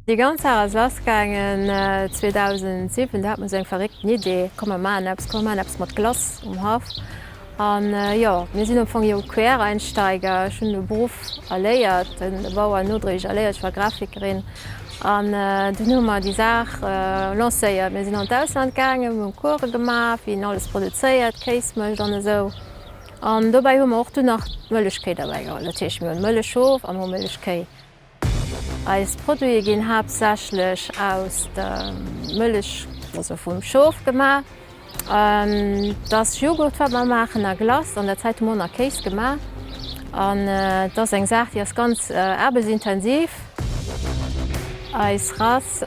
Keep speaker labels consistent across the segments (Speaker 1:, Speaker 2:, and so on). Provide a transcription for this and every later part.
Speaker 1: Déi ganz Saach ass lassgaangen 2007, do hat mer esou eng verréckten Idee, komm mer maachen eppes, komm mer maachen eppes mat Glace um Haff. A jo, mir sinn am Fong jo Quereinsteiger. Ech hunn de Beruff erléiert, den Bau an nodréiglech erléiert. Ech war Grafikerin an dunn hu mer déi Saach lancéiert. Mir sinn an d'Ausland gaangen, mir hunn Course gemaach, wéi een alles produzéiert, Kéis mécht an esou. An dobäi hu mer och dunn nach d'Mëllechkéi derbäi geholl. Dat heescht, mir hunn Mëllechhof a mir hu Mëllechkéi. Eis Produite ginn haaptsächlech aus der Mëllech, also vum Schof, gemaach. Et ass Joghurt, wat mer maachen, a Glace. An der Zäit hu mer och nach Kéis gemaach. An et ass eng Saach, déi ass ganz aarbechtsintensiv. Eis Rass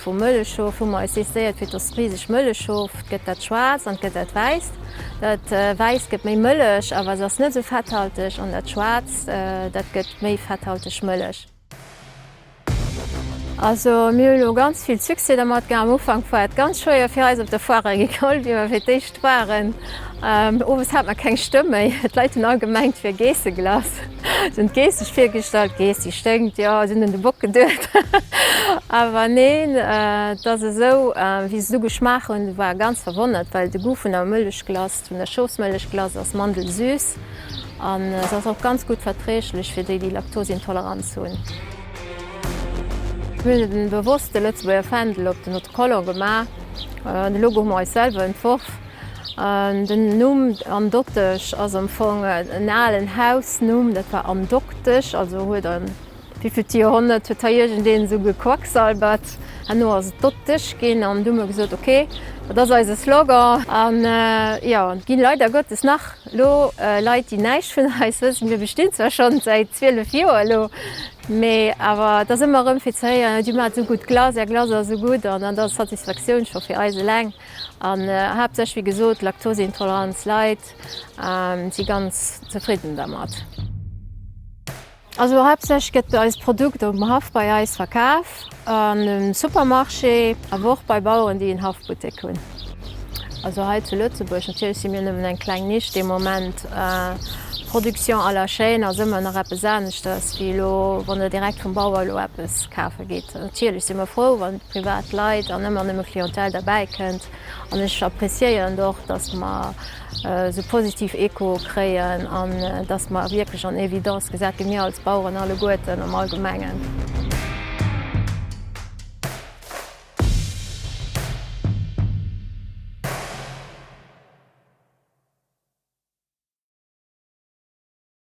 Speaker 1: vu Mëllechschof hu mer eis decidéiert fir dass riseg Mëllechschof. Et gëtt dat Schwaarzt an et gëtt dat Wäisst. Dat Wäisst gëtt méi mëllech, awer se ass net esou fetthalteg. An dat Schwaarzt, dat gëtt Méi fetthalteg Mëllech. Also mir hu lo ganz vill Succès dermat gehat. Am Ufank war et ganz schwéier fir eis op der Foire Agricole, wéi mer fir d'éischt waren. Owes hat mer keng Stëmm méi, d'Leit hunn all gemengt, et wier Geesseglace. Si hunn d'Geess sech virgestallt, d'Geess déi sténkt, jo, si hunn un de Bock geduecht. Awer neen, et ass esou, wéi se se ugeschmaacht hunn, war ganz verwonnert, well de Goût vun der Mëllechglace, vun der Schoufsmëllechglace ass mandelsüss. an se ass och ganz gutt verträglech fir déi, déi Laktosintoleranz hunn. Mir hunn et bewosst de Lëtzebuerger Fändel op den Autocollant gemaach. De Logo hu mer eis selwer entworf. Den Numm Am Doktech ass am Fong en alen Hausnumm, dat war Am Doktesch, also huet en Wivill Joerhonnert huet hei iergendeen esou gequacksalbert? Herno ass et dott dech ginn an du hu mer gesot, ok, dat ass eise Slogan. An jo, et ginn leider Gottes nach elo Leit, déi näischt vun eis wëssen. Mir bestinn zwar scho säit 12 Joer elo, mee awer et ass ëmmer erëm fir ze héieren, dir maacht esou gutt Glace, är Glace ass esou gutt. An dat ass Satisfaktioun scho fir eis eleng. An haaptsächlech, wéi gesot, d'Laktoseintolerant Leit si ganz zefridden dermat. Also haaptsächlech gëtt eist Produkt um Haff bei eis verkaf, an um Supermarché, awer och bei Baueren, déi en Haffbuttek hunn. Also hei zu Lëtzebuerg, natierlech si mir nëmmen eng kleng Nisch de Moment. Production à la chaîne ass ëmmer nach eppes aneschters, wéi elo wann Der direkt vum Bauer elo eppes kafe gitt. Natierlech si mer frou, wann privat Leit an ëmmer nëmme Clientèle derbäikënnt. An ech appréciéieren och, dass mer, esou positiv Echoe kréien an dass mer wierklech en Evidence gesat ginn, mir als Baueren alleguerten am Allgemengen.